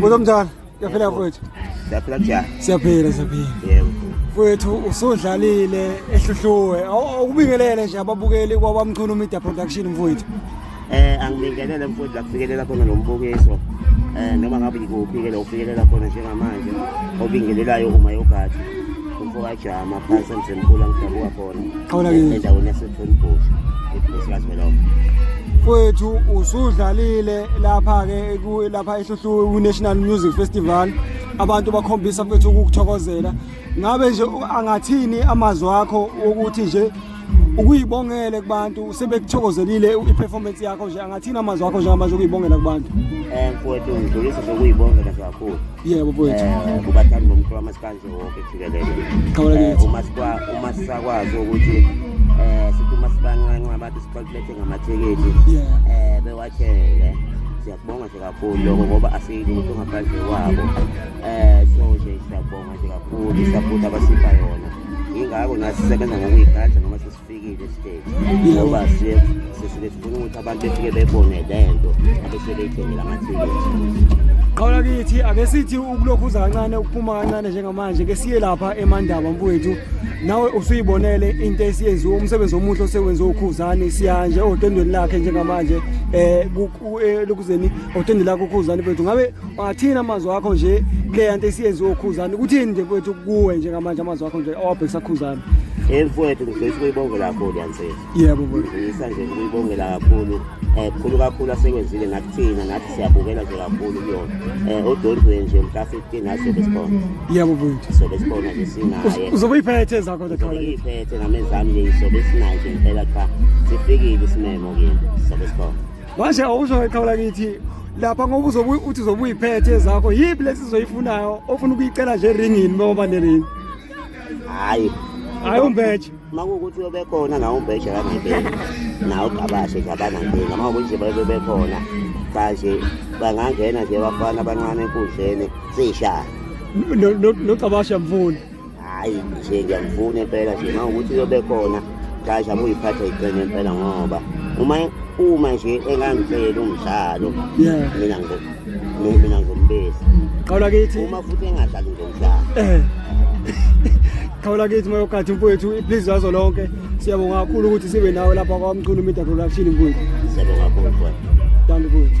Uzomthanda. Siyaphila mfowethu. Siyaphila njani? Siyaphila siyaphila. Yebo. Mfowethu usudlalile ehluhluwe. Awubingelele nje ababukeli kwabamchunu media production mfowethu. Eh angibingelele mfowethu lakufikelela khona lombukiso. Eh noma ngabe ngikuphi ke lokufikelela khona njengamanje. Obingelelayo uma yogadi. Umfowajama phansi emsemkhulu angidabuka khona. Kwethu usudlalile lapha ke lapha eHluhlu uNational Music Festival abantu bakhombisa futhi ukukuthokozela ngabe nje angathini amazwi akho ukuthi nje ukuyibongele kubantu sebekuthokozelile i-performance yakho nje angathini amazwi akho njengamanje ukuyibongela kubantu um mfowethu ngidlulisa sokuyibongela kakhulu yebo mfowethu um kubathandi bomculo wamasikanje uma sisakwazi ukuthi um sithi uma sibancanca abantu sibakulethe ngamathikithi um bewathenge siyakubonga nje kakhulu lokho ngoba asilutho ngaphandle kwabo um so nje siyakubonga nje kakhulu isapoti abasipha yona yingakho nathi sisebenza ngokuyigada noma sisi Fikile stage ngoba siye sisuke sifuna ukuthi abantu befike bebone le nto abese beyithengela amathikithi qhawula kithi ake sithi ukulokhu uza kancane ukuphuma kancane njengamanje ke siye lapha emandaba mfowethu nawe usuyibonele into esiyenziwe umsebenzi omuhle osewenziwe ukhuzane siya nje odendweni lakhe njengamanje eh, eh lokuzeni odendweni lakhe ukhuzane mfowethu ngabe Wathini amazwi akho nje kule yanto esiyenziwe ukhuzane kuthini nje mfowethu kuwe njengamanje amazwi akho nje awabhekisa khuzane Hey mfowethu ngifisa ukuyibongela kakhulu yansizwa. Yebo mfowethu. Ngifisa nje ukuyibongela kakhulu. Eh khulu kakhulu asekwenzile ngathi thina ngathi siyabukela nje kakhulu kuyona. Eh odondwe nje mhla 15 naso besibona. Yebo mfowethu. So besibona nje sinaye. Uzobe iphethe zakho the color. Iphethe ngamezami nje isobe sinaye nje impela cha. Sifikile isimemo kini. So besibona. Manje awuzoyithola kithi lapha ngoba uzobe uthi uzobe uyiphethe ezakho yiphi lesi zoyifunayo ofuna ukuyicela nje eringini uma uba neringi hayi hayi umbeje uma kuwukuthi uyobe khona nawo umbeje kangempela nawo ugabashe nje abanankinga uma kuwukuthi bayobe bekhona manje bangangena nje bafana abancane enkundleni sishaya nogabashe mfuni Hhayi nje ngiyamfuna impela nje uma ukuthi uyobe khona Tasha muyiphatha iqine impela ngoba uma uma nje engangicela umdlalo Yeah. mina ngo mi- mina ngombesi Qawula kithi. uma futhi engadlali ngomdlalo Eh. Qawula kithi moyo kathi mfowethu please wazo lonke. Siyabonga kakhulu ukuthi sibe nawe lapha kwa Mchunu Media Production mfowethu. siyabonga kakhulu mfowethu. Dankie mfowethu.